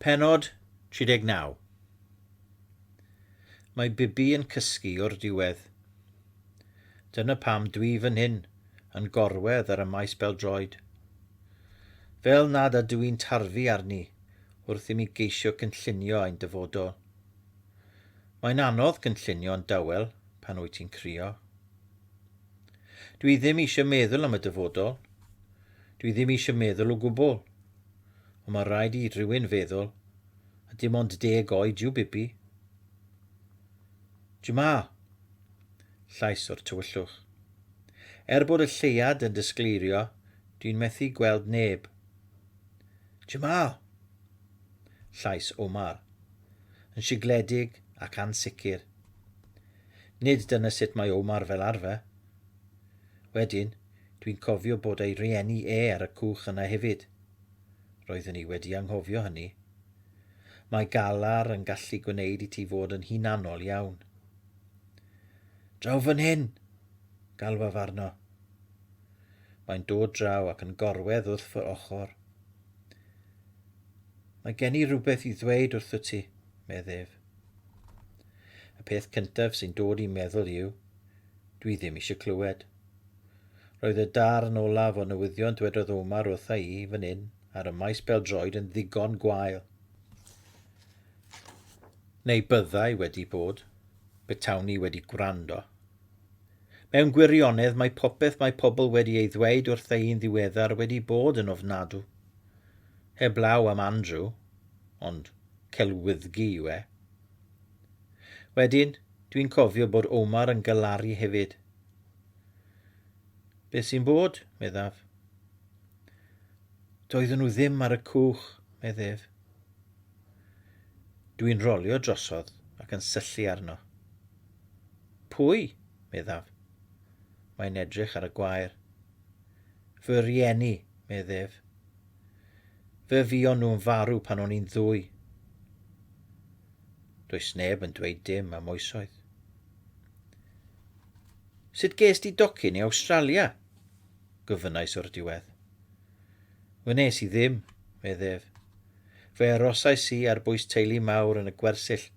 Pennod 39 Mae Bibi yn cysgu o'r diwedd. Dyna pam dwi fan hyn yn gorwedd ar y maes bel-droed. Fel nad ydw i'n tarfu arni wrth i mi geisio cynllunio ein dyfodol. Mae'n anodd cynllunio'n dawel pan wyt ti'n crio. Dwi ddim eisiau meddwl am y dyfodol, Dwi ddim eisiau meddwl o gwbl. Ond mae'n rhaid i rhywun feddwl, a dim ond deg oed yw Bibi. Jamal! Llais o'r tywyllwch. Er bod y lleuad yn disgleirio, dwi'n methu gweld neb. Jamal! Llais Omar, yn sigledig ac ansicr. Nid dyna sut mae Omar fel arfer. Wedyn, Dwi'n cofio bod ei rieni e ar y cwch yna hefyd. Roeddwn i wedi anghofio hynny. Mae galar yn gallu gwneud i ti fod yn hunanol iawn. Draw fan hyn! galwaf arno. Mae'n dod draw ac yn gorwedd wrth fy ochr. Mae gen i rhywbeth i ddweud wrtho ti, medd ef. Y peth cyntaf sy'n dod i meddwl yw, dwi ddim eisiau clywed. Roedd y darn olaf o newyddion dwedodd Omar wrtha i fan hyn ar y maes bel-droed yn ddigon gwael. Neu byddai wedi bod, betawn i wedi gwrando. Mewn gwirionedd mae popeth mae pobl wedi ei ddweud wrtha i'n ddiweddar wedi bod yn ofnadw. Heblaw am Andrew, ond celwyddgi yw e. Wedyn, dwi'n cofio bod Omar yn galaru hefyd, Beth sy'n bod, meddaf. Doedden nhw ddim ar y cwch, meddef. Dwi'n rolio drosodd ac yn syllu arno. Pwy? meddaf. Mae'n edrych ar y gwair. Fy rieni, meddef. Fe fuon nhw'n farw pan o'n i'n ddwy. Does neb yn dweud dim am oesoedd. Sut ges di docyn i Awstralia? gofynnais o'r diwedd. Wnes i ddim, medd ef. Fe arosais i ar bwys teulu mawr yn y gwersyll,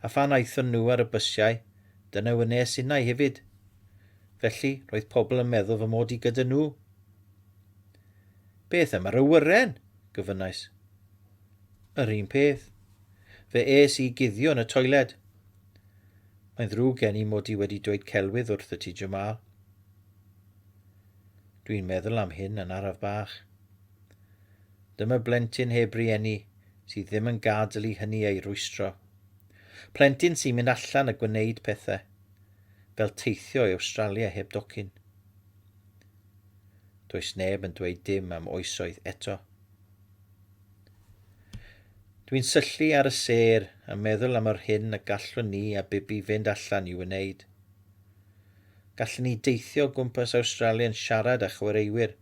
a phan aethon nhw ar y bysiau, dyna wnes innau hefyd. Felly, roedd pobl yn meddwl fy mod i gyda nhw. Beth am yr awyren? gofynnais. Yr un peth. Fe es i guddio yn y toiled. Mae'n ddrwg gen i mod i wedi dweud celwydd wrth y ti Jamal. Dwi'n meddwl am hyn yn araf bach. Dyma blentyn heb rieni sydd ddim yn gadl i hynny ei rwystro. Plentyn sy'n mynd allan a gwneud pethau, fel teithio i Awstralia heb docyn. Does neb yn dweud dim am oesoedd eto. Dwi'n syllu ar y sêr a meddwl am yr hyn y gallwn ni a Bibi fynd allan i wneud. Gallen ni deithio o gwmpas Awstralia yn siarad â chwaraewyr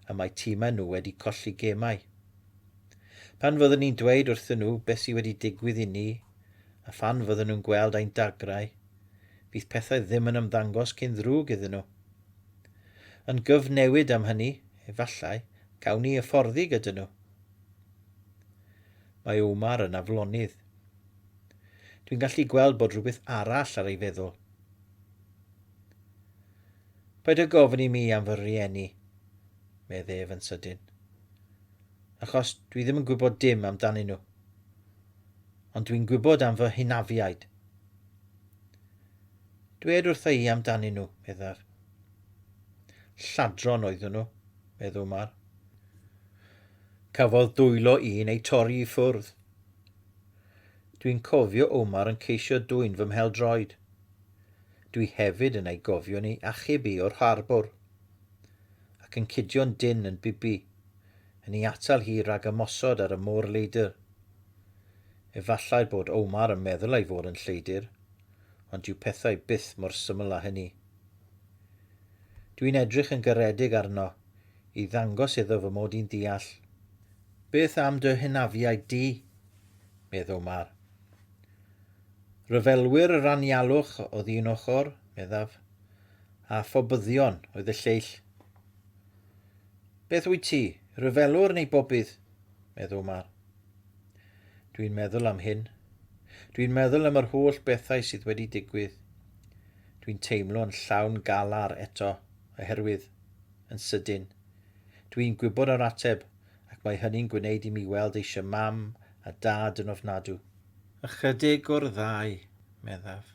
y mae timau nhw wedi colli gemau. Pan fyddwn ni'n dweud wrthyn nhw beth sydd wedi digwydd i ni a phan fydden nhw'n gweld ein dagrau, fydd pethau ddim yn ymddangos cyn ddrwg iddyn nhw. Yn gyfnewid am hynny, efallai, Gawn ni hyfforddi gyda nhw. Mae Omar yn aflonydd. Dwi'n gallu gweld bod rhywbeth arall ar ei feddwl. Paid â gofyn i mi am fy rhieni, medd ef yn sydyn. Achos dwi ddim yn gwybod dim amdanyn nhw. Ond dwi'n gwybod am fy hynafiaid. Dwed wrtha i amdanyn nhw, meddaf. Lladron oeddwn nhw. medd Umar. Cafodd dwylo un ei torri i ffwrdd. Dwi'n cofio Umar yn ceisio dwyn fy mhel-droed. Dwi hefyd yn ei gofion i achub i o'r harbwr, ac yn cudio'n dynn yn Bibi, yn i atal hi rag ymosod ar y môr leidr. Efallai bod Umar yn meddwl ei fod yn lleidr, ond dyw pethau byth mor syml â hynny. Dwi'n edrych yn garedig arno i ddangos iddo fy mod i'n deall. Beth am dy hynafiaid di? meddw Mar. Rhyfelwyr yr anialwch oedd un ochr, meddaf, a phobyddion oedd y lleill. Beth wyt ti, rhyfelwr neu bobydd? meddw Mar. Dwi'n meddwl am hyn. Dwi'n meddwl am yr holl bethau sydd wedi digwydd. Dwi'n teimlo'n llawn galar eto, oherwydd, yn sydyn, dwi'n gwybod yr ateb ac mae hynny'n gwneud i mi weld eisiau mam a dad yn ofnadw. Ychydig o'r ddau, meddaf.